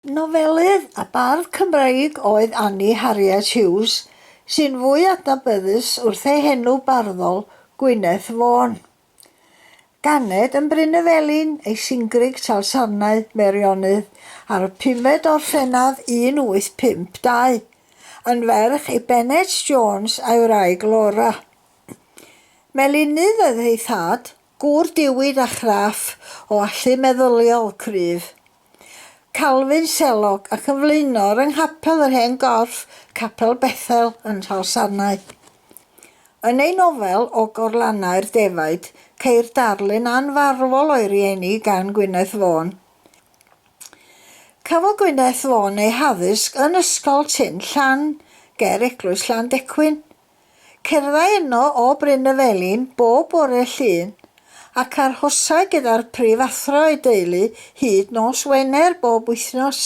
Nofelydd a bardd Cymreig oedd Annie Harriet Hughes, sy'n fwy adnabyddus wrth ei henw barddol, Gwyneth Vaughan. Ganed yn Bryn y Felin ei Singrig Talsarnau, Meirionnydd, ar y pumed o Orffennaf 1852, yn ferch i Bennet Jones a'i wraig Laura. Melinydd oedd ei thad, gŵr diwyd a chraff, o allu meddyliol cryf. Calvin Sellock ac yn flaenor yng Nghapel yr Hen Gorff, Capel Bethel yn Nhrallsarnau. Yn ei nofel O Gorlannau'r Defaid, ceir darlun anfarwol o'i rieni gan Gwyneth Vaughan. Cafodd Gwyneth Vaughan ei haddysg yn Ysgol Tyn Llan ger Eglwys Llandecwyn, Cerddai yno o Bryn y Felin bob bore Llun, ac arhosai gyda'r prifathro a'i deulu hyd nos Wener bob wythnos.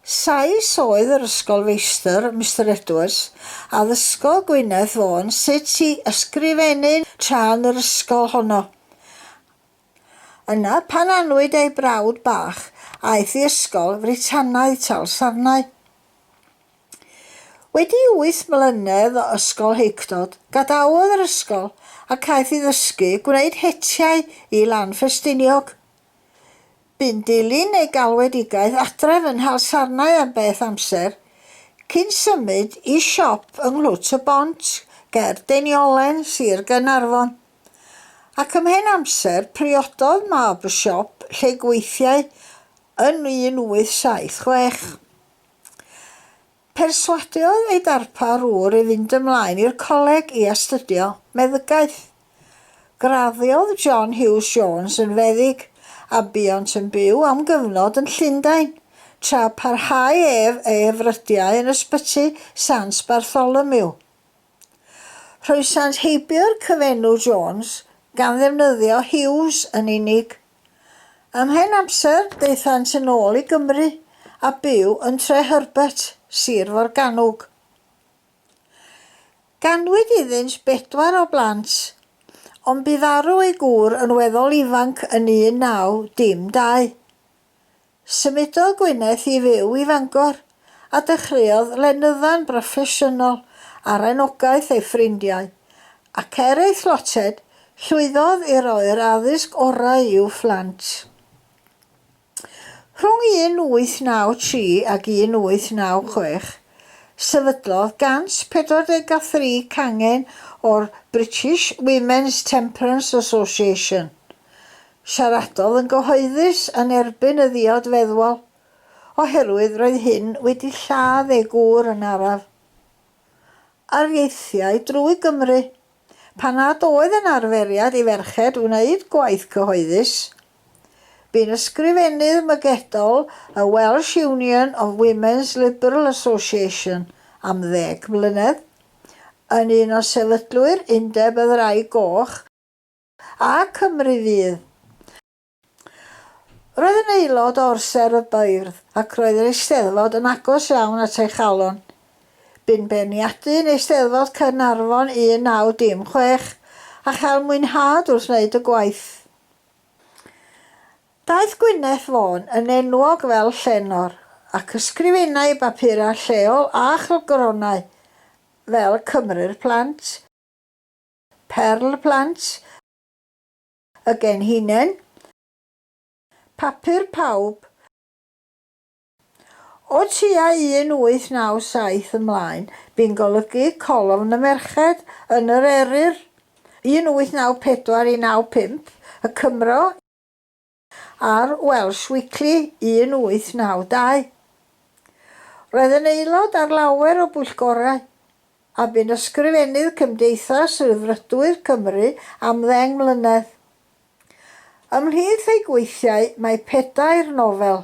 Sais oedd yr ysgolfeistr, Mister Edwards, a ddysgodd Gwyneth Vaughan sut i ysgrifennu tra yn yr ysgol honno. Yna, pan anwyd ei brawd bach, aeth i ysgol Fritanaidd, Tal Sarnau. Wedi wyth mlynedd o ysgol heicdod, gadawodd yr ysgol ac aeth i ddysgu gwneud hetiau i Lan Ffestiniog. Bu'n dilyn ei galwedigaeth adref yn Nhal Sarnau am beth amser, cyn symud i siop yng Nghlwt y Bont ger Deiniolen, Sir Gaernarfon. Ac ymhen amser, priododd mab y siop lle gweithiai yn 1876. Perswadiodd ei darpar ŵr i fynd ymlaen i'r coleg i astudio meddygaeth. Graddiodd John Hughes Jones yn feddyg, a buont yn byw am gyfnod yn Llundain, tra parhau ef ei frydiau yn Ysbyty Sant Bartholomew. Rhoesant heibio'r cyfenw Jones gan ddefnyddio Hughes yn unig. Am hen amser, daethant yn ôl i Gymru a byw yn Tre Herbert, Sir Forgannwg. Ganwyd iddynt bedwar o blant, ond bu farw ei gŵr yn weddol ifanc yn 1912. Symudodd Gwyneth i fyw i Fangor a dechreuodd lenydda'n broffesiynol ar anogaeth ei ffrindiau, ac er ei thlotted, llwyddodd i roi'r addysg orau i'w phlant. Rhwng 1893 ac 1896, sefydlodd 143 cangen o'r British Women's Temperance Association, Siaradodd yn gyhoeddus yn erbyn y ddiod feddwol oherwydd roedd hyn wedi lladd ei gŵr yn araf. Ar ieithiau drwy Gymru, pan nad oedd yn arferiad i ferched wneud gwaith cyhoeddus, bu'n ysgrifennydd mygedol y Welsh Union of Women's Liberal Association am ddeg mlynedd, yn un o sefydlwyr Undeb y Ddraig Goch, A Cymru Fydd. Roedd yn aelod o Orsedd y Beirdd ac roedd yr Eisteddfod yn agos iawn at ei chalon. Bu'n beirniadu yn Eisteddfod Caernarfon 1916 a chael mwynhad wrth wneud y gwaith. Daeth Gwyneth Vaughan yn enwog fel llenor ac ysgrifennai bapurau lleol a chylchgronau fel Cymru'r Plant, Perl plant y genhinen, papur pawb O tua 1897 ymlaen, bu'n golygu colofn y merched yn yr Eryr, 1894 i 95, y Cymro, Ar Welsh Weekly 1892, roedd yn aelod ar lawer o bwyllgorau, a bu'n ysgrifennydd Cymdeithas Rhyddfrydwyr Cymru am ddeng mlynedd. Ymhlith ei gweithiau mae pedair nofel,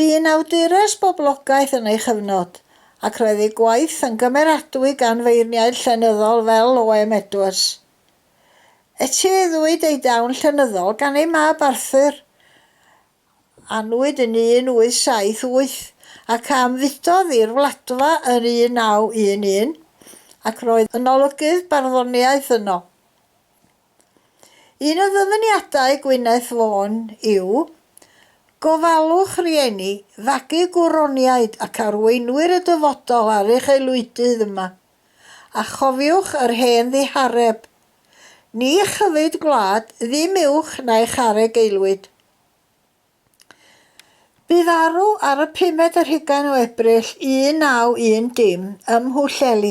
Bu'n awdures boblogaeth yn ei chyfnod, ac roedd ei gwaith yn gymeradwy gan feirniaid llenyddol fel Oem Edwards. Etifeddwyd ei dawn llenyddol gan ei mab Arthur, anwyd yn 1878, ac a ymfudodd i'r Wladfa yn 1911, ac roedd yn olygydd barddoniaeth yno. Un o ddyfyniadau Gwyneth Vaughan yw, Gofalwch rieni, fagu gwroniaid ac arweinwyr y dyfodol ar eich aelwydydd yma, a chofiwch yr hen ddihareb, Ni chyfyd gwlad, ddim uwch na eich areg aelwyd. Bu farw ar y pumed ar hugain o Ebrill 1910 ym Mhwllheli,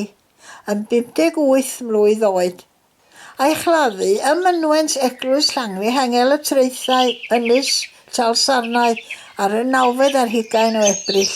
yn 58 mlwydd oed. A'i chladdu ym mynwent Eglwys Llanwi Hengel y Traethau, Ynys Talsarnau, ar y nawfed ar hugain o Ebrill.